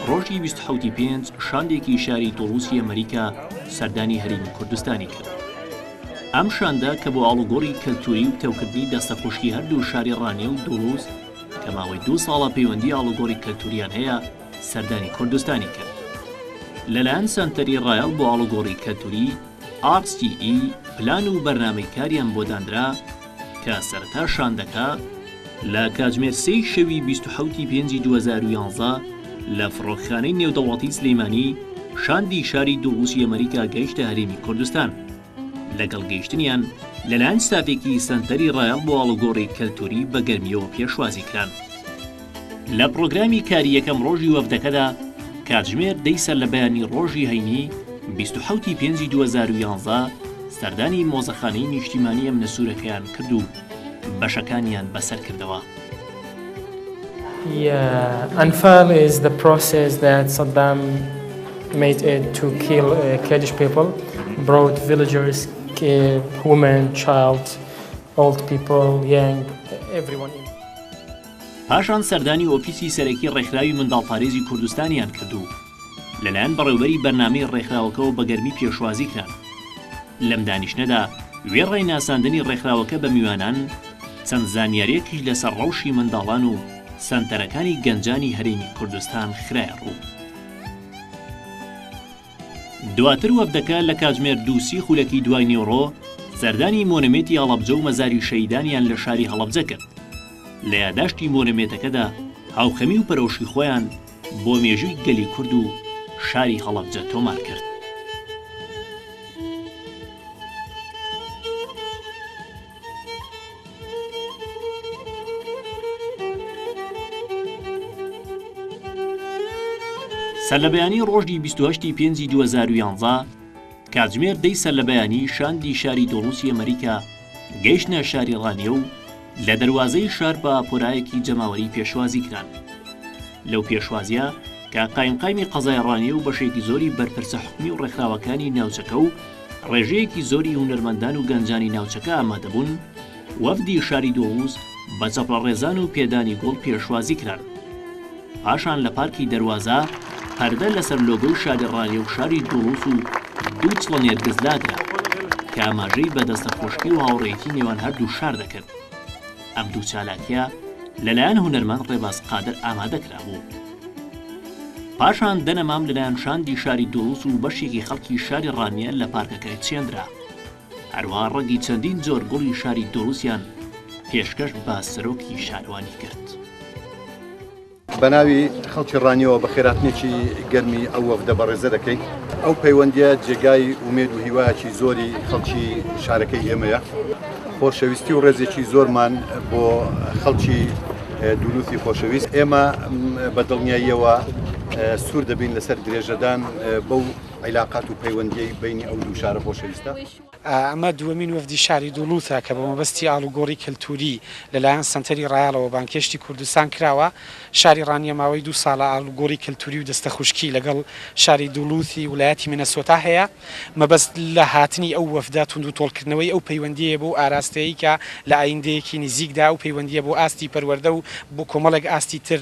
ڕۆژی بیست و حەوتی پێنج شاندێکی شاری توڵوسی ئەمەریکا سەردانی هەرێمی کوردستانی کرد ئەم شاندە کە بۆ ئاڵوگۆڕی کەلتوری و پتەوکردنی دەستەخۆشی هەردوو شاری ڕانیە و دوڵوز کە ماوەی دوو ساڵە پەیوەندی ئاڵوگۆڕی کەلتوریان هەیە سەردانی کوردستانی کرد لەلایەن سەنتەری ڕایەڵ بۆ ئاڵوگۆڕی کەلتوری RCE پلان و بەرنامەی کاریان بۆ دانرا کە سەرەتا شاندەکە لە کاتژمێر سێی شەوی بیست و حەوتی پێنجی دوو هەزار و یانزە لە فڕۆکخانەی نێودەوڵەتی سلێمانی شاندی شاری دووڕووسی ئەمەریکا گەیشتە هەرێمی کوردستان. لەگەڵ گەیشتنیان لەلایەن ستافێکی سەنتەری ڕایەڵ بۆ ئاڵوگۆڕی کەلتووری بە گەرمییەوە پێشوازی کران. لە پڕۆگرامی کاری یەکەم ڕۆژی وەفدەکەدا کاتژمێر دەی سەرلەبەیانی ڕۆژی هەینی بیست و حەوت ی پێنجی دوو هەزار و یازدە سەردانی مۆزەخانەی نیشتیمانی ئەمنە سوورەکەیان کرد و بەشەکانیان بەسەر کردەوە. ئەنفال ئیز دە پرۆسێس دات سەدام مەید ئیت تو کیل کێردیش پیپل برۆت ڤیلجەرس هومەن چایلد ئۆڵد پیپل یەنگ ئێڤریوان ئین پاشان سەردانی ئۆفیسی سەرەکی ڕێکخراوی منداڵپارێزی کوردستانیان کرد و لەلایەن بەڕێوبەری بەرنامەی ڕێکخراوەکەوە بە گەرمی پێشوازی کران. لەم دانیشتنەدا وێڕای ناساندنی ڕێکخراوەکە بە میوانان، چەند زانیارییەکیش لەسەر ڕەوشی منداڵان و سەنتەرەکانی گەنجانی هەرێمی کوردستان خرایە ڕوو. دواتر وەفدەکە لە کاتژمێر دوو سی خولەکی دوای نیوەڕۆ سەردانی مۆنۆمێتی هەڵەبجە و مەزاری شەهیدانیان لە شاری هەڵەبجە کرد. لە یاداشتی مۆنۆمێتەکەدا هاوخەمی و پەرۆشی خۆیان، بۆ مێژووی گەلی کورد و شاری هەڵەبجە تۆمار کرد. سەرلەبەیانی ڕۆژی بیست و هەشت ی پێنجی دوو هەزار و یانزە، کاتژمێر دەی سەرلەبەیانی شاندی شاری دۆڵوسی ئەمەریکا، گەیشتنە شاری ڕانیە و لە دەروازەی شار بە پۆرایەکی جەماوەری پێشوازی کران. لەو پێشوازیە کە قایمقامی قەزای ڕانیە و بەشێکی زۆری بەرپرسە حکومی و ڕێکخراوەکانی ناوچەکە و ڕێژەیەکی زۆری هونەرمەندان و گەنجانی ناوچەکە ئامادەبوون، وەفدی شاری دۆڵووز بە چەپڵەڕێزان و پێدانی گوڵ پێشوازی کران. پاشان لە پارکی دەروازە، پەردە لەسەر لۆگۆی شاری ڕالیە و شاری دوڵوس و دوو چڵە نێرگز لادرا، کە ئاماژەی بە دەستە خۆشی و هاوڕێیەتی نێوان هەردوو شار دەکرد. ئەم دوو چالاکیە لەلایەن هونەرمەند ڕێباز قادر ئامادە کرابوو. پاشان دەنەمام لەلایەن شاندی شاری دوڵوس و بەشێکی خەڵکی شاری ڕانیە لە پارکەکە چێندرا. هەروەها ڕەنگی چەندین جۆر گوڵی شاری دۆڵوزیان پێشکەش بە سەرۆکی شارەوانی کرد. بە ناوی خەڵکی ڕانیەوە بە خێراتنێکی گەرمی ئەو وەفدە بەڕێزە دەکەین ئەو پەیوەندیە جێگای ومێد و هیواکی زۆری خەڵکی شارەکەی ئێمەیە خۆشەویستی و ڕێزێکی زۆرمان بۆ خەڵکی دوولوتی خۆشەویست ئێمە بە دڵنیاییەوە سوور دەبین لەسەر درێژەدان بەو عیلاقات و پەیوەندیی بەینی ئەو دوو شارە خۆشەویستە. ئەمە دووەمین وەفدی شاری دوڵوتە کە بە مەبەستی ئاڵوگۆڕی کەلتووری لەلایەن سەنتەری ڕایەڵەوە بانگهێشتی کوردستان کراوە. شاری ڕانیە ماوەی دوو ساڵە ئاڵوگۆڕی کەلتووری و دەستەخوشکی لەگەڵ شاری دوڵوتی ولایەتی مینەسۆتا هەیە. مەبەست لە هاتنی ئەو وەفدە توندوتۆڵکردنەوەی ئەو پەیوەندییە بوو ئاراستەی کە لە ئایندەیەکی نزیکدا ئەو پەیوەندییە بۆ ئاستی پەروەردە و بۆ کۆمەڵێک ئاستی تر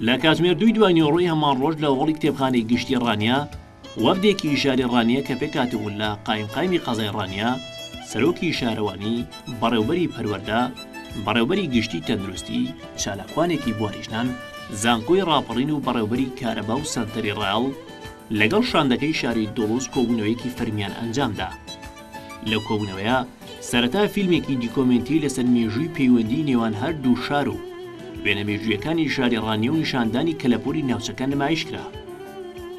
لە کاتژمێر دووی دوای نیۆڕۆی هەمان ڕۆژ لە هۆڵی کتێبخانەی گشتی ڕانیە وەفدێکی شاری ڕانیە کە پێکاتبوون لە قایم قایمی قەزای ڕانیە سەرۆکی شارەوانی بەڕێوبەری پەروەەردە بەڕێوبەری گشتی تەندروستی چالاکوانێکی بواریژنان زانکۆی ڕاپەڕین و بەڕێوبەری کارەبا و سەنتەری ڕاڵ لەگەڵ شاندەکەی شاری دۆڵوز کۆبوونەوەیەکی فەرمیان ئەنجامدا لەو کۆبوونەوەیە سەرەتا فیلمێکی دیکۆمێنتی لەسەر مێژووی پەیوەندیی نێوان هەر دوو شار و وێنە مێژوویەکانی شاری ڕانیە و نیشاندانی کەلەپووری ناوچەکە نمایش کرا.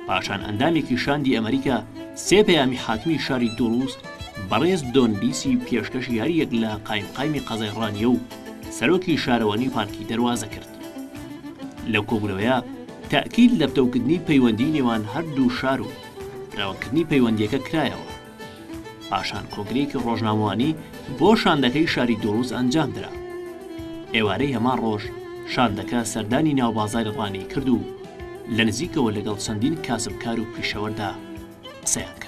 پاشان ئەندامێکی شاندی ئەمەریکا سێ پەیامی حاکمی شاری دوڵوز بەڕێز دۆن لیسی پێشکەش یارییەک لە قایمقایمی قەزای ڕانیە و سەرۆکی شارەوانی پارکی دەروازە کرد. لەو کۆبوونەوەیە تەئکید لە پتەوکردنی پەیوەندیی نێوان هەر دوو شار و فراوانکردنی پەیوەندییەکە کرایەوە. پاشان کۆنگرەیەکی ڕۆژنامەوانی بۆ شاندەکەی شاری دوڵوز ئەنجامدرا. ئێوارەی هەمان ڕۆژ شاندەکە سەردانی ناوبازاری ڕانیی کرد و لە نزیکەوە لەگەڵ چەندین کاسبکار و پیشەوەردا قسەیان کرد.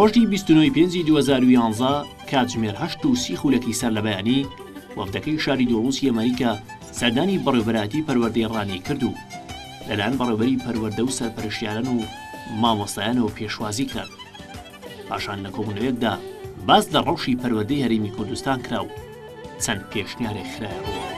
ڕۆژی بیست و نۆی پێنجی 2011 کاتژمێر هەشت و سی خولەکی سەر لە بەیانی وەفدەکەی شاری دۆڵوسی ئەمریکا سەردانی بەڕێوبەراتی پەروەردەی ڕانی کرد و لەلایەن بەڕێوبەری پەروەردە و سەرپەرشتیاران و مامۆستایانەوە پێشوازی کران. پاشان لە کۆبوونەوەیەکدا باس لە ڕەوشی پەروەردەی هەرێمی کوردستان کرا و چەند پێشنیارێک خرایە ڕوو.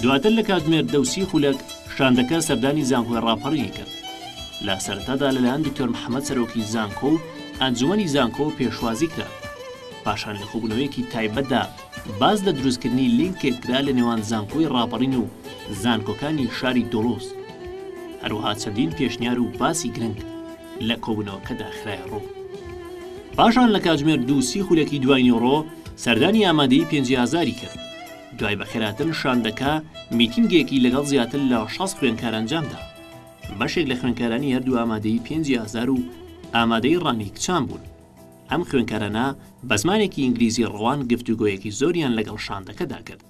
دواتر لە کاک مێردەوسی خولەک، شاندەکە سەردانی زانکۆی ڕاپەڕینی کرد. لە سەرەتادا لەلایەن دکتۆر محەمەد سەرۆکی زانکۆ و ئەنجومەنی زانکۆ پێشوازی کرا. پاشان لە کۆبوونەوەیەکی تایبەتدا، باس لە دروستکردنی لینکێک کرا لە نێوان زانکۆی ڕاپەڕین و زانکۆکانی شاری دۆڵوز. هەروەها چەندین پێشنیار و باسی گرنگ لە کۆبوونەوەکەدا خرایە ڕوو. پاشان لە کاتژمێر دوو سی خولەکی دوایینیوڕۆ سەردانی ئامادەیی پێنجی ئازاری کرد. دوای بەخێرهاتن شاندەکە میتینگێکی لەگەڵ زیاتر لە شەست خوێندکار ئەنجامدا. بەشێک لە خوێندکارانی هەردوو ئامادەیی پێنجی ئازار و ئامادەیی ڕانیی کچان بوون. ئەم خوێنکارانە بە زمانێکی ئینگلیزی ڕەوان گفتوگۆیەکی زۆریان لەگەڵ شاندەکەدا کرد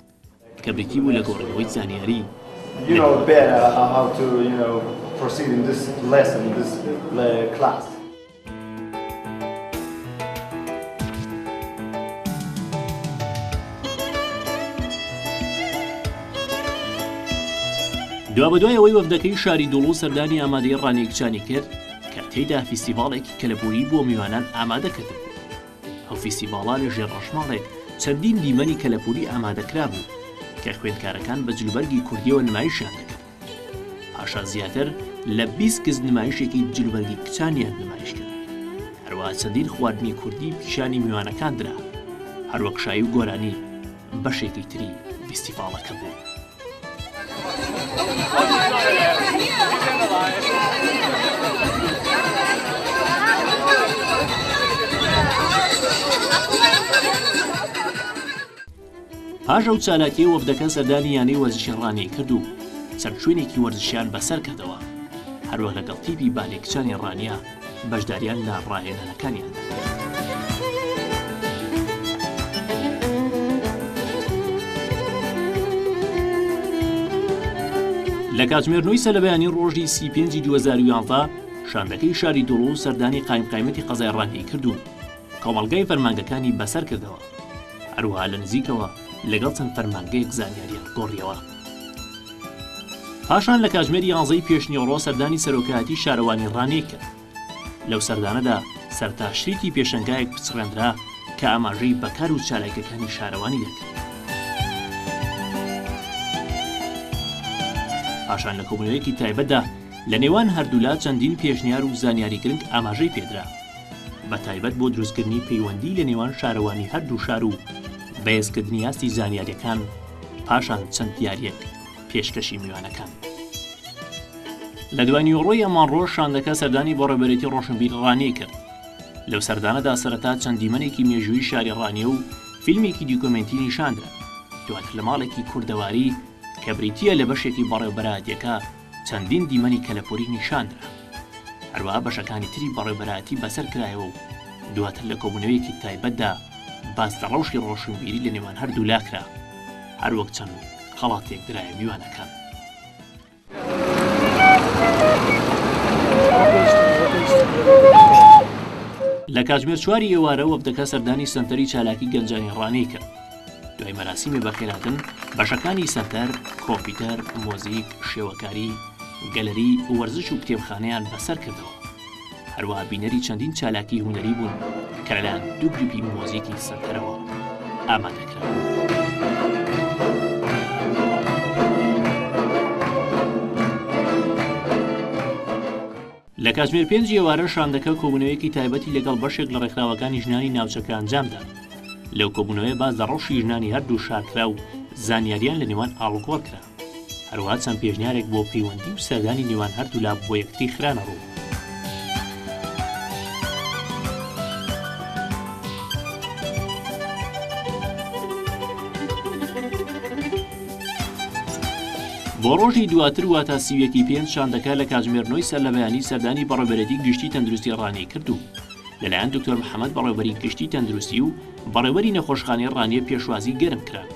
کە بریتی بوو لە گۆڕینەوەی زانیاری لە دوابەدوای ئەوەی وەفدەکەی شاری دوڵوز سەردانی ئامادەی ڕانیە کچانی کرد، کە تێیدا فیستیڤاڵێکی کەلەپووری بۆ میوانان ئامادە کردبوو. ئەو فیستیڤاڵە لە ژێر ڕەشماڵێک چەندین دیمەنی کەلەپووری ئامادە کرابوو، کە خوێندکارەکان بە جلوبەرگی کوردییەوە نمایشیان دەکرد. پاشان زیاتر لە بیست کچ نمایشێکی جلوبەرگی کچانیان نمایش کرد. هەروەها چەندین خواردنی کوردی پیشانی میوانەکان درا. هەروەک شایی و گۆرانی بەشێکی تری ڤیستیڤاڵەکە بوو. پاش ئەو چالاکیە وەفدەکە سەردانی یانەی وەرزشی ڕانیەی کردو چەند شوێنێکی وەرزشیان بەسەر کردەوە هەروەک لەگەڵ تیپی بالێ کچانی ڕانیە بەشداریان لە ڕاهێنانەکانیاندا کرد. لە کاتژمێر نۆی سەرلەبەیانی ڕۆژی سی پێنجی 2011 شاندەکەی شاری دوڵ و سەردانی قایمقایمەتی قەزای ڕانگەی کردوون کۆمەڵگای فەرمانگەکانی بەسەر کردەوە هەروها لە نزیکەوە لەگەڵ چەند فەرمانگەیەک زانیاریان گۆڕیەوە. پاشان لە کاتژمێر یانزەی پێشنیوەڕۆ سەردانی سەرۆکایەتی شارەوانی ڕانیەی کرد. لەو سەردانەدا سەرتاشریی پێشەنگایەک پچڕێندرا کە ئاماژەی بە کار و چالاکیەکانی شارەوانی دەکرد. پاشان لە کۆبوونەوەیەکی تایبەتدا لە نێوان هەردوولا چەندین پێشنیار و زانیاری گرنگ ئاماژەی پێدرا. بە تایبەت بۆ دروستکردنی پەیوەندی لە نێوان شارەوانی هەردوو شار و بەێزکردنی ئاستی زانیاریەکان پاشان چەند دیاریەک پێشکەشی میوانەکان لە دوای نیوەڕۆی ئەمانڕۆژ شاندەکە سەردانی بۆ ڕێبەرێتی ڕۆشنبیر ڕانی کرد لەو سەردانەدا سەرەتا چەند دیمەنێکی مێژووی شاری ڕانیە و فیلمێکی دیکۆمنتی نیشاندرا دواتر لە ماڵێکی کوردەواری کە بریتە لە بەشێکی بەڕێوبەرایەتەکە چەندین دیمەنی کەلەپووری نیشاندرا، هەروەها بەشەکانی تری بەڕێوبەرایەتی بەسەر کرایەوە و دواتر لە کۆبوونەوەیەکی تایبەتدا باس لە ڕەوشی ڕۆشنبیری لە نێوان هەردوولا کرا، هەروەک چەند خەڵاتێک درایە میوانەکان. لە کاتژمێر چواری ئێوارە وەفدەکە سەردانی سەنتەری چالاکی گەنجانی ڕانیە کرد، دوای مەراسیمی بەخێرهاتن، بەشەکانی سەنتەر، کۆمپیوتەر، مۆزیک، شێوەکاری، گەلەری، وەرزش و کتێبخانەیان بەسەر کردەوە. هەروەها بینەری چەندین چالاکی هونەری بوون کە لەلایەن دوو گروپی مۆزیکی سەنتەرەوە ئامادە کران. لە کاتژمێر پێنج ئێوارە شاندەکە کۆبوونەوەیەکی تایبەتی لەگەڵ بەشێک لە ڕێکخراوەکانی ژنانی ناوچەکە ئەنجامدا. لەو کۆبوونەوەیە باس لە ڕەوشی ژنانی هەردوو شار کرا و زانیارییان لە نێوان ئاڵوگۆڕ کرا. هەروەها چەند پێشنیارێک بۆ پەیوەندی و سەردانی نێوان هەردوولا بۆ یەکتری خرانە ڕوو. بۆ ڕۆژی دواتر واتە سی و یەک ی پێنج شاندەکە لە کاتژمێر نۆی سەرلەبەیانی سەردانی بەڕێوبەرێتی گشتی تەندروستی ڕانیە کرد و لەلایەن دکتۆر محەمەد بەڕێوبەری گشتی تەندروستی و بەڕێوەری نەخۆشخانەی ڕانیە پێشوازی گەرم کران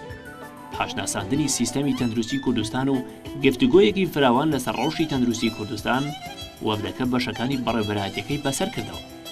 پاش ناساندنی سیستەمی تەندروستی کوردستان و گفتگۆیەکی فراوان لەسەر ڕەوشی تەندروستی کوردستان وەڤدەکە بەشەکانی بەڕێوبەرایەتیەکەی بەسەر کردەوە.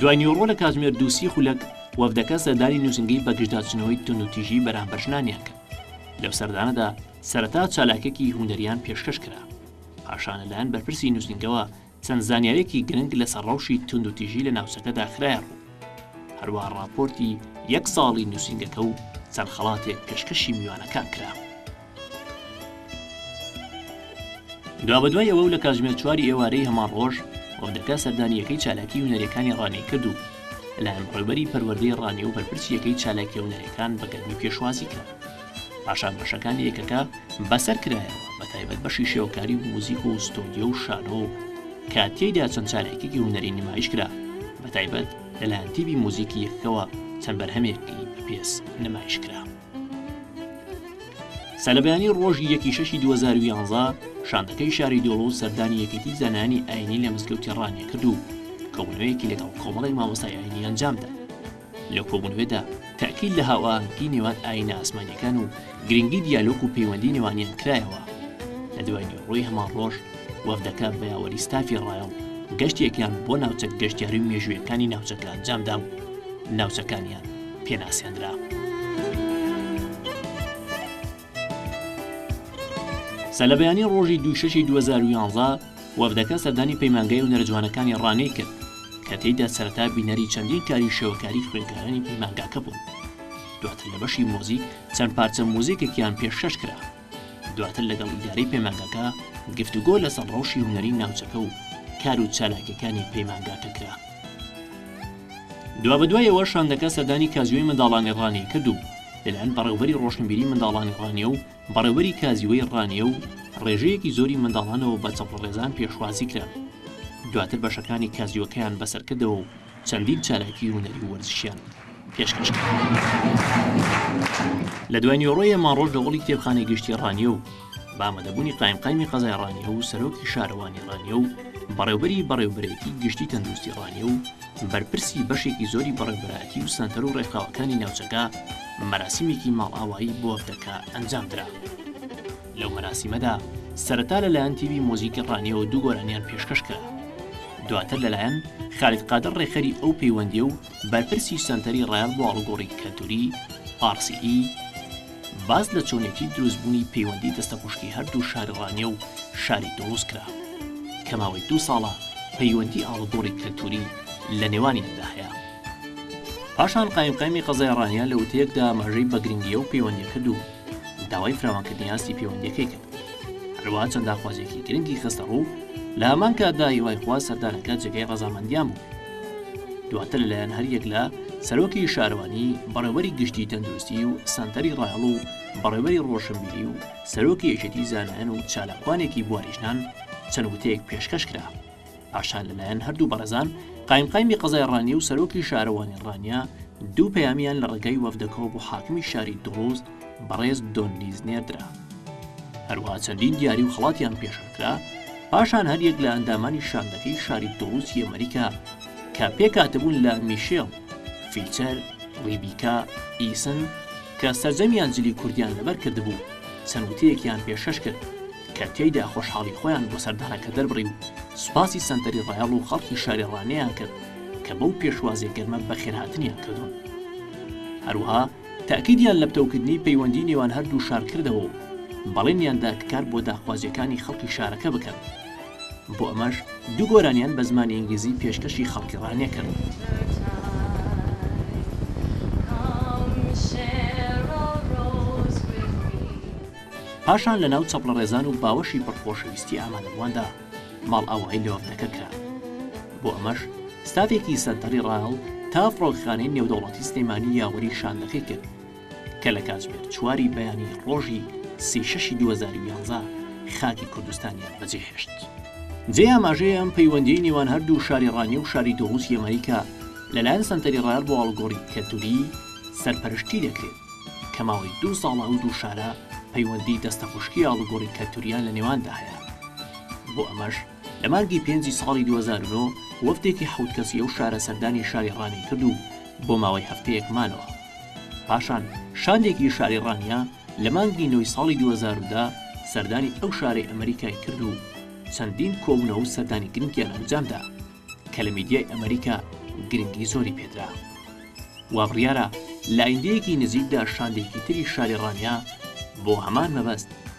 دوای نیوەڕۆ لە کاتژمێر دوو سی خولەک وەفدەکە سەردانی نووسینگەی بەگژداچنەوەی توندوتیژی بەرامبەر ژنانیان کرد. لەو سەردانەدا سەرەتا چالاکێکی هونەریان پێشکەش کرا. پاشان لەلایەن بەرپرسی نووسینگەوە چەند زانیاریەکی گرنگ لەسەر ڕەوشی توندوتیژی لە ناوچەکەدا خرایە ڕوو. هەروەها ڕاپۆرتی یەک ساڵی نووسینگەکە و چەند خەڵاتێک پێشکەشی میوانەکان کرا. دوابەدوای ئەوە و لە کاتژمێر چواری ئێوارەی هەمان ڕۆژ، ئۆدەکە سەردانییەکەی چالاکیی هونەرییەکانی ڕانێی کرد و لەلایەن ڕێبەری پەروەردەی ڕانێ و بەرپرسی یەکەی چالاکییە هونەرییەکان بە گەرمی پێشوازی کرا. پاشان بەشەکانی یەکەکە بەسەر کرایەوە، بەتایبەت بەشی شێوەکاری و موزیک و ستۆدیۆ و شانۆ و کە تێیدا چەند چالاکییەکی هونەری نمایش کرا، بەتایبەت لەلایەن تیپی موزیکی یەکەکەوە چەند بەرهەمێکی بەپێز نمایش کرا. سەرەبەیانی ڕۆژی یەکی شەشی دوو هەزار و یانزە شاندەکەی شاری دۆڵۆ سەردانی یەکێتی زانایانی ئاینی لە مزگەوتی ڕانیە کرد و کۆبوونەوەیەکی لەگەڵ کۆمەڵێک مامۆستای ئاینی ئەنجامدا لە کۆبوونەوەدا تاکیل لە هاوئاهەنگی نێوان ئاینە ئاسمانیەکان و گرنگی دیالۆک و پەیوەندی نێوانیان کرایەوە لە دوای نیوەڕۆی هەمان ڕۆژ وەفدەکە بە یاوەری ستافی ڕایەڵ گەشتێکیان بۆ ناوچە گەشتیاری و مێژوویەکانی ناوچەکە ئەنجامدا و ناوچەکانیان پێناسێندرا. سە لە بەیانی ڕۆژی دوو شەشی دوو هەزار و یانزە، وەفدەکە سەردانی پەیمانگای هونەرە جوانەکانی ڕانەی کرد، کە تێیدا سەرەتا بینەری چەندین کاری شێوەکاری خوێندکارانی پەیمانگاکە بوون. دواتر لە بەشی مۆزیک چەند پارچە مۆزیکێکیان پێشکەش کرا. دواتر لەگەڵ ئیدارەی پەیمانگاکە گفتوگۆ لەسەر ڕەوشی هونەری ناوچەکە و کار و چالاکیەکانی پەیمانگاکە کرا. دوابەدوایەوە شاندەکە سەردانی کازیۆی منداڵانی ڕانیە کرد و لەلایەن بەڕێوبەری ڕۆشنبیری منداڵانی ڕانیە و بەڕێوبەری کازیۆی ڕانیە و ڕێژەیەکی زۆری منداڵانەوە بە چەپڵەڕێزان پێشوازی کران. دواتر بەشەکانی کازیۆکەیان بەسەرکردەوە و چەندین چالاکی هونەری و وەرزشیان پێشکەش کرد. لە دوای نیوەڕۆی یەمانڕۆژ لە هۆڵی کتێبخانەی گشتی ڕانیە و بە ئامادەبوونی قایمقامی قەزای ڕانیە و سەرۆکی شارەوانی ڕانیە و بەڕێوبەری بەڕێوبەرێتی گشتی تەندروستی ڕانیە و بەرپرسی بەشێکی زۆری بەڕێبەرایەتی و سەنتەر و ڕێکخراوەکانی ناوچەکە مەراسیمێکی ماڵئاوایی بۆ ئەفدەکە ئەنجام درا. لەو مەراسیمەدا سەرەتا لە لایەن تیڤی مۆزیکی ڕانیەوە دوو گۆرانیان پێشکەش کرا. دواتر لە لایەن خالید قادر ڕێکخەری ئەو پەیوەندیە و بەرپرسی سەنتەری ڕایەڵ بۆ ئاڵوگۆڕی کەلتوری، RCE، باس لە چۆنیەتی دروست بوونی پەیوەندی دەستەپوشکی هەردوو شاری ڕانیە و شاری توڵوز کرا کە ماوەی دوو ساڵە پەیوەندی ئاڵوگۆڕی کەلتوری لە نێوانیاندا هەیە. پاشان قایمقامی قەزای ڕانیە لە وتەیەکدا ئاماژەی بە گرنگی ئەو پەیوەندیە کرد و، داوای فراوانکردنی ئاستی پەیوەندیەکەی کرد هەروە چەند داخوازیەکی گرنگی خستە ڕوو لە ئەمان کاتدا هیوای خوا سەردانەکە جێگەی ڕەزامەندیان بوو دواتر لەلایەن هەریەک لە سەرۆکی شارەوانی بەڕێوەری گشتی تەندروستی و سنتەری ڕاهڵ و بەڕێوەری ڕۆشنبیری و سەرۆکی یەکێتی زانایان و چالاکوانێکی بواریژنان چەند وتەیەک پێشکەش کرا پاشان لەلایەن هەردوو بەڕێزان قایمقامی قەزای ڕانیە و سەرۆکی شارەوانی ڕانیە دوو پەیامیان لە ڕێگەی وەفدەکەەوە بۆ حاکمی شاری دڵوز بەڕێز دۆنلیز نێردرا هەروە چەندین دیاری و خڵاتیان پێشکرا پاشان هەریەک لە ئەندامانی شاندەکەی شاری دڵوز یەمەریکا کە پێکاتبوون لە میشێڵ فیچەر ڕیبیکا ئیسن کە سەرجەمیان جلی کوردیان لەبەر کردبوو، چەند وتەیەکیان پێشکەش کرد، کە تێیدا خۆشحاڵی خۆیان بۆ سەردانەکە دەربڕی و سوپاسی سەنتەری ڕایەڵ و خەڵکی شاری ڕانیەیان کرد، کە بەو پێشوازیە گەرمە بەخێرهاتنیان کردوون. هەروەها تەئکیدیان لە پتەوکردنی پەیوەندی نێوان هەردوو شار کردەوە و بەڵێنیان دا کە کار بۆ داخوازیەکانی خەڵکی شارەکە بکەن. بۆ ئەمەش دوو گۆرانیان بە زمانی ئینگلیزی پێشکەشی خەڵکی ڕانیە کرد. پاشان لە ناو چەپڵەڕێزان و باوەشی پڕ خۆشەویستی ئامادەبوواندا ماڵئاوایی لە وەفدەکە کرا. بۆ ئەمەش ستافێکی سەنتەری ڕایەڵ تا فڕۆکەخانەی نێودەوڵەتی سلێمانی یاوەری شاندەکەی کرد. کە لە کاتژمێر چواری بەیانی ڕۆژی سی شەشی دوو هەزار و یانزە خاکی کوردستانیان بەجێهێشت. جێی ئاماژەیە ئەم پەیوەندیەی نێوان هەردوو شاری ڕانیە و شاری دۆڵوس یەمەنی کە لەلایەن سەنتەری ڕایەڵ بۆ ئاڵوگۆڕی کەلتوری سەرپەرشتی دەکرێت کە ماوەی دوو ساڵە ئەو دوو شارە پەیوەندی دەستەخوشکی ئاڵوگۆڕی کەلتوریان لە نێواندا هەیە بۆ ئەمەش لە مانگی پێنجی ساڵی دوو هەزار و نۆ وەفدێکی حەوت کەسی ئەو شارە سەردانی شاری ڕانیای کرد و بۆ ماوەی هەفتەیەک مانەوە. پاشان شاندێکی شاری ڕانیە لە مانگی نۆی ساڵی دوو هەزار و دە سەردانی ئەو شارەی ئەمەریکای کرد و چەندین کۆبوونەوە و سەردانی گرنگیان ئەنجامدا کە لە میدیای ئەمەریکا گرنگی زۆری پێدرا. وابڕیارە لە ئایندەیەکی نزیکدا شاندێکی تری شاری ڕانیە بۆ هەمان مەبەست